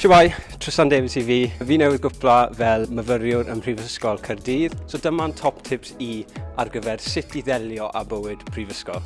Siwai, Tristan Davies i fi. Fi newydd gwpla fel myfyriwr ym Mhrifysgol Caerdydd, so dyma'n top tips i ar gyfer sut i ddelio â bywyd prifysgol.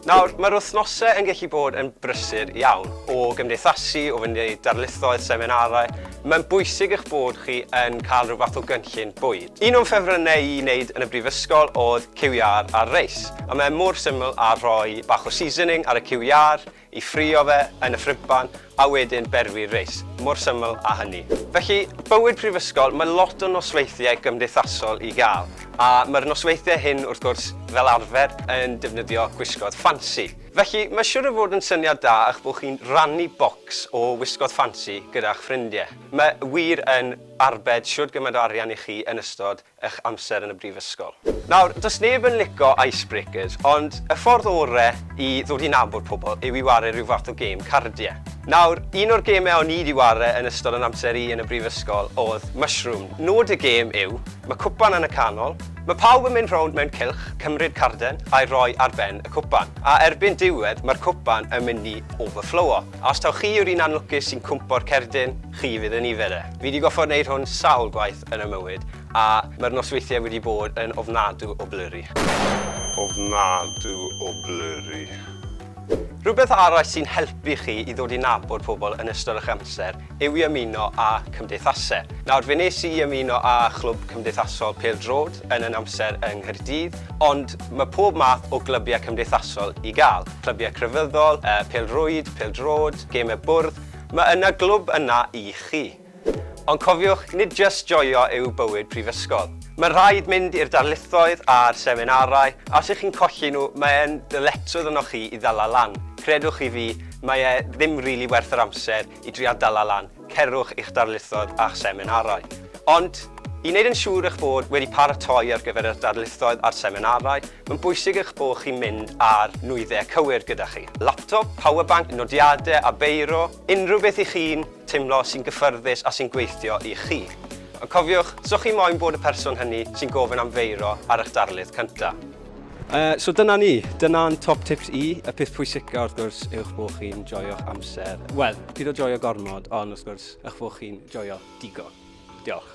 Nawr, mae'r wythnosau yn gallu bod yn brysur iawn. O gymdeithasu, o fynd i darlithoedd, seminarau, mae'n bwysig eich bod chi yn cael rhyw fath o gynllun bwyd. Un o'n ffefrynnau i wneud yn y brifysgol oedd cyw iâr ar reis, a mae e mor syml â rhoi bach o seasoning ar y cyw iâr, i ffrio fe yn y ffribban, a wedyn berwi'r reis, mor syml â hynny. Felly, bywyd prifysgol, mae lot o nosweithiau gymdeithasol i gael, a mae'r nosweithiau hyn, wrth gwrs, fel arfer, yn defnyddio gwisgoedd ffansi. Felly, mae'n siwr o fod yn syniad da eich bod chi'n rhannu bocs o wisgoedd ffansi gyda'ch ffrindiau. Mae wir yn arbed shwd gymaint o arian i chi yn ystod ych amser yn y brifysgol. Nawr, does neb yn lico icebreakers, ond y ffordd ore i ddod i nabod pobl yw i ware rhyw fath o gêm cardie. Nawr, un o'r geme o'n i 'di ware yn ystod yn amser i yn y brifysgol o'dd Mushroom. Nod y gêm yw, ma' cwpan yn y canol, ma' pawb yn mynd rownd mewn cylch, cymryd carden a'i roi ar ben y cwpan, a erbyn diwedd ma'r cwpan yn mynd i overflowo. Os taw chi yw'r un anlwcus sy'n cwmpo'r cerdyn, chi fydd yn nifer e. Fi 'di goffod neud hwn sawl gwaith yn 'y mywyd, a ma'r nosweithie wedi bod yn ofnadw o blurry. Ofnadw o blurry. Rhywbeth arall sy'n helpu chi i ddod i nabod pobl yn ystod 'ych amser yw i ymuno â cymdeithasau. Nawr, fe nes i ymuno â chlwb cymdeithasol pêl-droed yn yn amser yng Nghaerdydd, ond mae pob math o glybiau cymdeithasol i gael, clybiau crefyddol, pêl-rwyd, pêl-droed, gemau bwrdd, mae yna glwb yna i chi. Ond cofiwch, nid jyst joio yw bywyd prifysgol. Mae'n rhaid mynd i'r darlithoedd a'r seminarau, a os y'ch chi'n colli nhw, mae'n ddyletswydd arnoch chi i ddala lan. Credwch chi fi, Mae e ddim rili werth yr amser i drio dala lan, cerwch i'ch darlithoedd a'ch seminarau. Ond, i wneud yn siŵr eich bod wedi paratoi ar gyfer eich darlithoedd a'r seminarau, mae'n bwysig eich bod chi'n mynd â'r nwyddau cywir gyda chi, laptop, power bank, nodiadau a beiro, unrhyw beth i chi'n teimlo sy'n gyffyrddus a sy'n gweithio i chi. Ond cofiwch, so chi moyn bod y person hynny sy'n gofyn am feiro ar eich darlith cyntaf. Uh, so dyna ni, dyna'n top tips i. Y peth pwysica wrth gwrs yw'ch bod chi'n joio'ch amser. Wel, pyd o joio gormod, ond wrth gwrs yw'ch bod chi'n joio digon. Diolch.